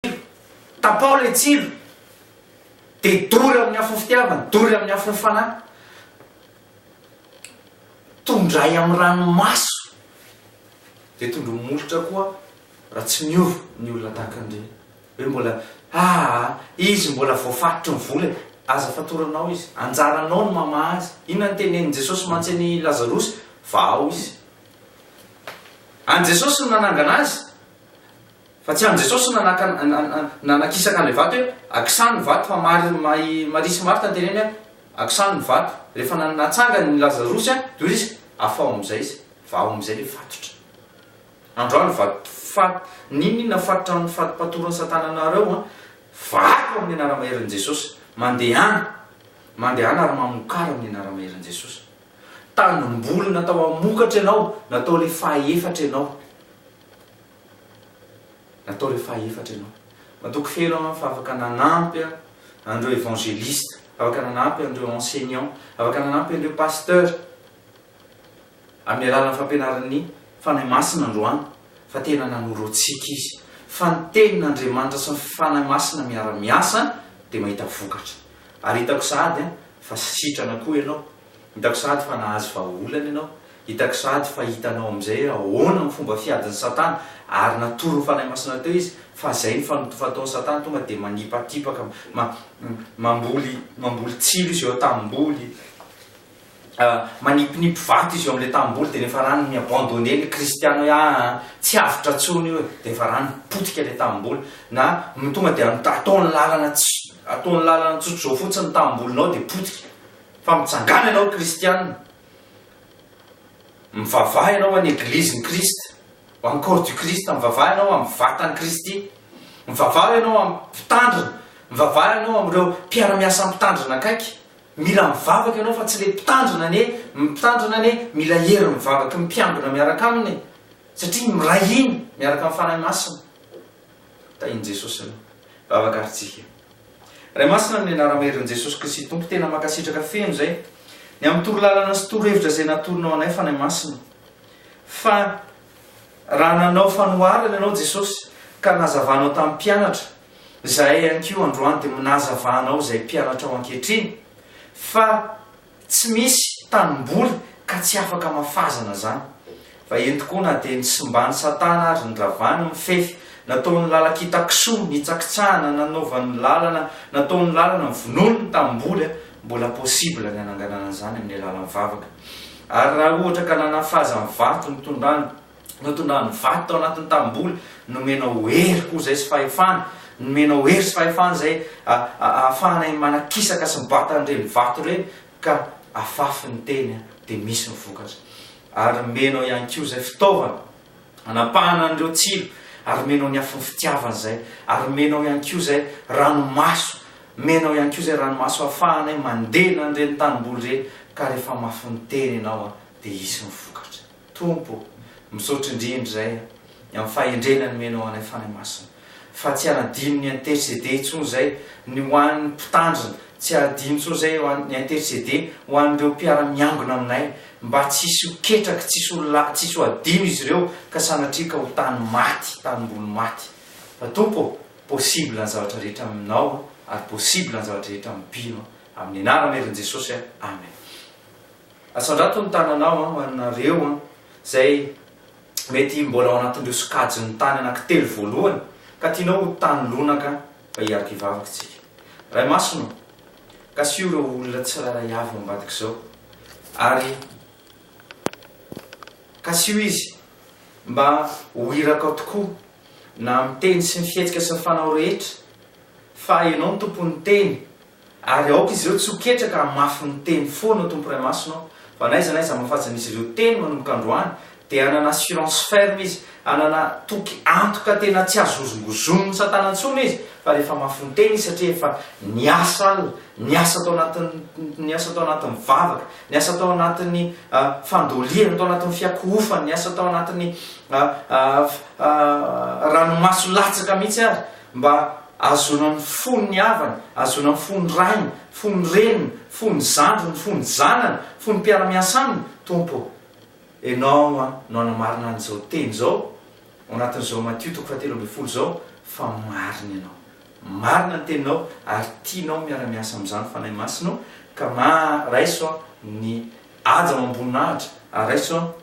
tsilo, tapaho ilay tsilo, dia dory amin'ny afon'ny fitiavana, dory amin'ny afon'ny fanahy, tondray amin'ny ranomaso, dia tondroy molotra koa raha tsy miova ny olona tahaka an'ireny. Hoe mbola, aa, izy mbola voafaritry ny vola e! Aza fatoranao izy, anjaranao ny mamaha azy. Inona no tenenin'i Jesosy mantsy an'i Lazarosy? Vahao izy. An'i Jesosy no nanangana azy. Fa tsy an'i Jesosy no nanaka nanakisaka an'ilay vato hoe, Akisano ny vato, fa Mary i Maria sy Marta no teneny hoe, Akisano ny vato. Rehefa na natsangany i Lazarosy dia hoy izy, Afaho amin'izay izy. Vaho amin'izay ilay fatotra. Androany vato fat N'inon'inona fatotra amin'ny fatim-patoron'i Satana anareo an, vato amin'ny anara-maherin'i Jesosy. Mandehana. Mandehana ary mamokara amin'ny anara-maherin'i Jesosy. Tanimboly natao hamokatra ianao, natao ilay faha efatra ianao. Natao ilay fahaefatra ianao. Matoky feno aho fa afaka nanampy aho an'ireo évangéliste, afaka nanampy an'ireo enseignant, afaka nanampy an'ireo pasteur amin'ny alalan'ny fampianaran'ny Fanahy Masina androany fa tena nanoro antsika Izy fa ny Tenin'Andriamanitra sy ny Fanahy Masina miara-miasa dia mahita vokatra. Ary hitako sahady fa sitrana koa ianao Hitako sahady fa nahazo vahaolana ianao. Hitako sahady fa hitanao amin'izay hoe ahoana ny fomba fiadin'i Satana, ary natoron'ny Fanahy Masina teo izy fa izay ny fano fataon'i Satana, tonga dia manipatipaka, ma, mamboly, mamboly tsilo izy eo an-tanimboly, ah, manipinipy vato izy eo amin'ilay tanimboly, dia rehefa rano mi-abandonner ny Kristiana hoe ah, ah, tsy avotra intsony io e, dia efa rano potika ilay tanimboly, na tonga dia ataony lalana, ataony lalana tsotr'izao fotsiny ny tanimbolinao dia potika. Fa mitsangàna ianao kristiana, mivavaha ianao ho an'ny Eglizin'i Kristy, ho an'ny Corps du Christ, mivavaha ianao ho amin'ny Vatan'i Kristy, mivavaha ianao ho amin'ny Mpitandrina, mivavaha ianao amin'ireo mpiara-miasa Mpitandrina akaiky, mila mivavaka ianao fa tsy ilay Mpitandrina anie, ny Mpitandrina anie mila hery mivavaky ny mpiambina miaraka aminy e! satria miray hina miaraka amin'ny Fanahy Masina. Tahin'i Jesosy ny vavaka ary tsy heno. Ray Masina amin'ny anarama herin'i Jesosy Kristy Tompo tena mankasitraka feno izay ny amin'ny toro lalana sy toro hevitra izay natorinao anay Fanahy Masina fa raha nanao fanoharana ianao Jesosy ka nazavanao tamin'ny mpianatra izahay ihany koa androany dia mnazava anao izay mpianatrao ankehitriny fa Tsy misy tanimboly ka tsy afaka mafazana zany. Fa eny tokoa na dia nisimbany satana ary niravany ny fefy, nataony lalankita kisoa, nitsakitsahana, nanaovany lalana, nataony lalana, novonoiny ny tanimboly a, mbola possible ny hananganana an'izany amin'ny alalan'ny vavaka. Ary raha ohatra ka nanafaza ny vato nitondrany, notondrany vato tao anatin'ny tanimboly, nomenao hery koa izay sy fahefana, nomenao hery sy fahefana izay ahafahanay manakisaka sy mibata an'ireny vato ireny ka afafy ny teny dia misy ny vokatra. Ary nomenao ihany koa izay fitaovana hanapahana an'ireo tsilo, ary nomenao ny afon'ny fitiavana izay, ary nomenao ihany koa izay ranomaso, nomenao ihany koa izay ranomaso ahafahanay mandena an'ireny tanimboly ireny ka rehefa mafy ny teny ianao dia hisy ny vokatra. Tompo ô, misaotra indrindra izay amin'ny fahendrena nomenao anay Fanahy Masina, fa tsy hanadino ny interceder intsony izay ny ho an'ny mpitandrina, tsy hadino intsony izay ny interceder ho an'ireo mpiara-miangona aminay, mba tsy hisy ho ketraky, tsy hisy ho la, tsy hisy ho hadino izy ireo ka sanatria ka ho tany maty, tanimboly maty. Fa Tompo ô, possible ny zavatra rehetra aminao ary possible ny zavatra rehetra amin'ny mpino, amin'ny anaran'i Herin'i Jesosy, Amen. Asandrato ny tananao an, ho anareo an, izay mety mbola ao anatin'ireo sokajin'ny tany anankitelo voalohany ka tianao ho tany lonaka fa hiaro kivavaka isika. Ray Masina ô, kasiho ireo olona tsirairay avy ao ambadik'izao ary kasiho izy mba ho irakao tokoa na amin'ny teny sy ny fihetsika sy ny fanao rehetra fa Ianao no Tompon'ny teny Ary aoka izy ireo tsy ho ketraka hamafy ny teny foana ao Tompo Ray Masina ao, fa n'aiza n'aiza hamafajan'izy ireo teny manomboka androany, dia hanana assurance ferme izy, hanana toky antoka tena tsy azo hozongozonin'i Satana intsony izy, fa rehefa mafy ny teny izy satria efa niasa alina, niasa tao anatin'ny, niasa tao anatin'ny vavaka, niasa tao anatin'ny fandolihana, tao anatin'ny fiakohofana, niasa tao anatin'ny ranomaso latsaka mihitsy ary mba Ahazoana ny fon' ny havany, ahazoana ny fon' ny rainy, fon' ny reniny, fon' ny zandriny, fon' ny zanany, fon' ny mpiara-miasa aminy, Tompo ô, Ianao no hanamarina an' izao teny izao, ao anatin' izao Matio toko fahatelo ambin'ny folo izao, fa marina Ianao. Marina ny Teninao, ary tianao miara-miasa amin' izany Fanahy Masina io, ka ma, raiso ny haja amam-boninahitra, ary raiso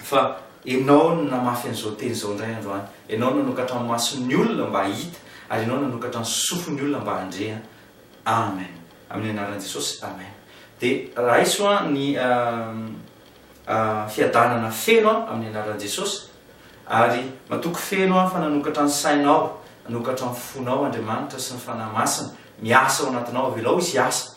Fa Ianao no namafy an'izao teny izao indray androany. Ianao no nanokatra ny mason'ny olona mba hahita, ary Ianao nanokatra ny sofin'ny olona mba handre an. Amen. Amin'ny anaran'i Jesosy. Amen. Dia raiso an ny fiadanana feno an amin'ny anaran'i Jesosy. Ary matoky feno an fa nanokatra ny sainao, nanokatra ny fonao Andriamanitra sy ny Fanahy Masina miasa ao anatinao. Avelao Izy hiasa.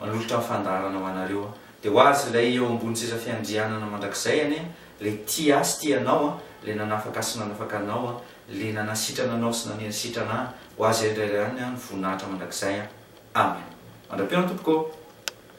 Manolotra ny fandaharana ho anareo aho. Dia ho azy ilay eo ambony seza fiandrianana mandrakizay anie an, ilay tia ahy sy tia anao an, ilay nanafaka ahy sy nanafaka anao an, ilay nanasitrana anao sy nanenasitrana ahy, ho azy indray ihany ny voninahitra mandrakizay an! Amen! Mandra-peo ny Tompoko ô!